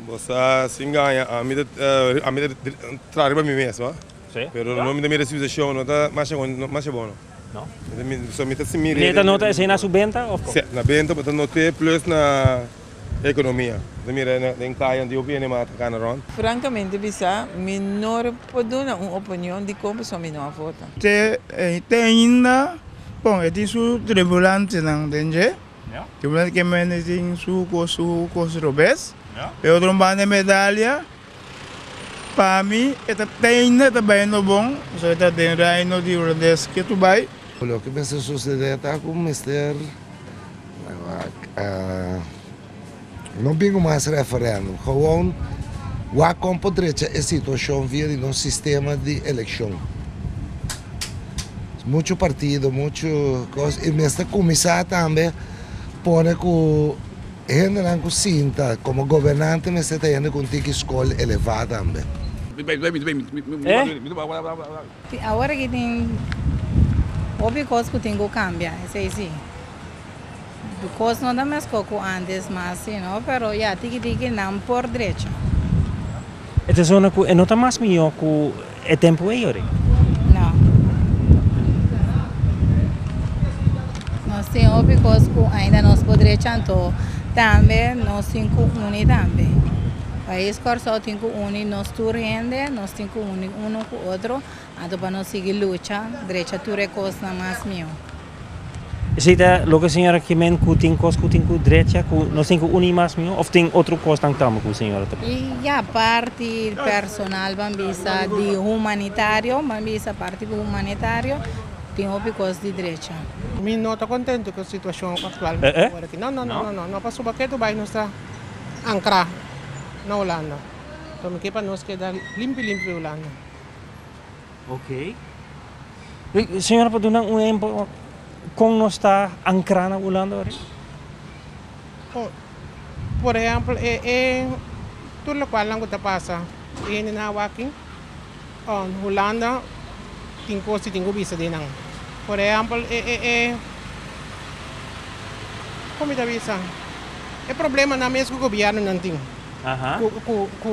Bo sa sin gaña ami ta ami ta traha riba mi mes no pero no mi ta mira si usa show no ta masha bon no masha bon no so mi ta simi de ta nota esei na su benta of como si na benta bo ta note plus na economia bo ta mira den kaya anto yo ku yende mata kana rond. Francamente bisa mi no por duna un opinion di kon pasobra mi no a vota. Te ainda bon e tin su tribulantenan den dje. Tin un banda ke mende tin su kos su kos robes e otro banda medalia pa mi e ta teinda ta bai no bon pasobra e ta den reino di holandes ke tur bai. Loke mester susedé ta ku mester. No bingo mas referendum, gewoon wak kon por drecha e situashon via di nos sistema di elekshon. Muchu partido, muchu kos i mester kuminsá tambe pone ku hendenan ku sinta komo gobernante mester ta hende ku un tiki skol elevá tambe. Tin awor aki tin hopi kos ku tin ku kambia, esei si. Di kos no ta mesco cu antes mas si no, pero ya tiki tiki nan por drecha. E ta zona cu e no ta mas mijo cu e tempo ey ori? No. Nos tin hopi cos cu ainda nos por drecha anto tambe nos tin cu uni tambe. Pais Corsou tin cu uni nos tur hende, nos tin cu uni uno cu otro Anto pa nos sigui lucha. Drecha tur e kosnan mas mihó. Esei ta loke señora Kimen ku tin kos ku tin ku drecha ku nos tin ku uní mas mihó òf tin otro kosnan tambe ku señora ta pasa? Ya parti personal ban bisa di humanitario ban bisa parti humanitario tin hopi kos di drecha. Mi no ta kontentu ku situashon aktual ku ta wòrdu aki. No, no, no, no pasobra ke tu bai nos ta ankrá na Hulanda. Anto mi ke pa nos keda limpi limpi Hulanda. Oké. Señora por dunan un ehempel kon nos ta ankra na Ulanda ori? Por ehempel e e tur lokualnan ku ta pasa hende na awaki on Hulanda tin kos tin ku bisa di nan. Por ehempel e e kon mi ta bisa e problemanan mes ku gobièrnunan tin ku ku.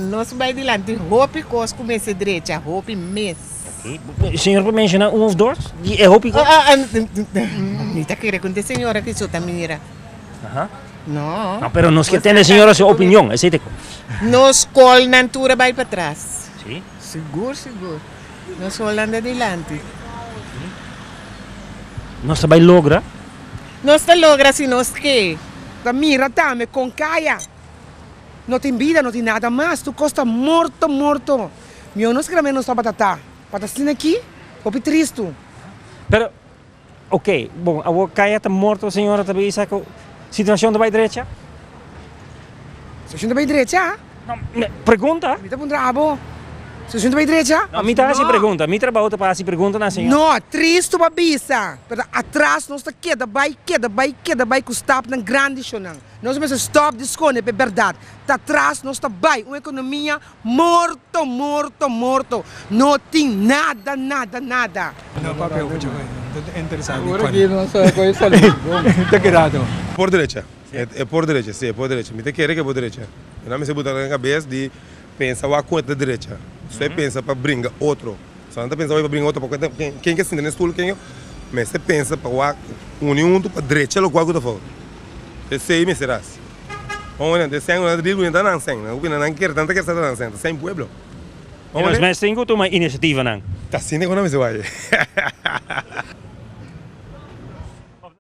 Nos bai dilanti hopi kos ku mester drecha, hopi mes. Oke, señor por menshoná un of dos di e hopi kos? Mi ta kere kunt e señora ku esou ta mira. No. No, pero nos kier tende e señora su opinion, esei ta e kos. Nos skolnan tur a bai patras. Si? Sigur, sigur. Nos skolnan ta dilanti. Nos ta bai logra? Nos ta logra si nos ke. Ta mira tambe kon kaya. No tin bida, no tin nada mas, tur kos ta morto, morto. Mihó nos keda mester nos tabata ta, pa ta asina aki, hopi tristu. Pero, ok, bon, awor Kaya ta morto, señora ta bisa ku situashon ta bai drecha? Situashon ta bai drecha? No, mi pregunta. Mi ta puntra abo, situashon ta bai drecha? No, mi ta hasi pregunta. Mi trabou ta pa hasi preguntanan, señora. No, tristu pa bisa, pero atras nos ta keda bai, keda bai, keda bai ku stapnan grandi shonnan. Nos mester stop di skone p'e berdad. Ta tras nos ta bai un ekonomia morto, morto, morto. No tin nada, nada, nada. No papia oca dje bay. No ta interesado di cona. Ora nos ta coge salud bon. Ta keda to. Por derecha. E por derecha si e por derecha. Mi ta kere cu e por derecha. Mi no a mester buta na cabes di. Pensa wak ku e ta drecha, so e pensa pa bringa otro. So nan ta pensa hoy pa bringa otro, pa ken ke sinta den stul ken yo mester pensa pa wak uni huntu pa drecha loke wak ku ta fout. Esei mester hasi. Ora nan ta sèn, ora nan ta dil, ta nan sèn. Nan ta opina nan kier, nan ta kier sa ta nan sèn, ta sèn pueblo. I nos mesten ku tuma inisiativa nan. Ta asina ku nan mester wak.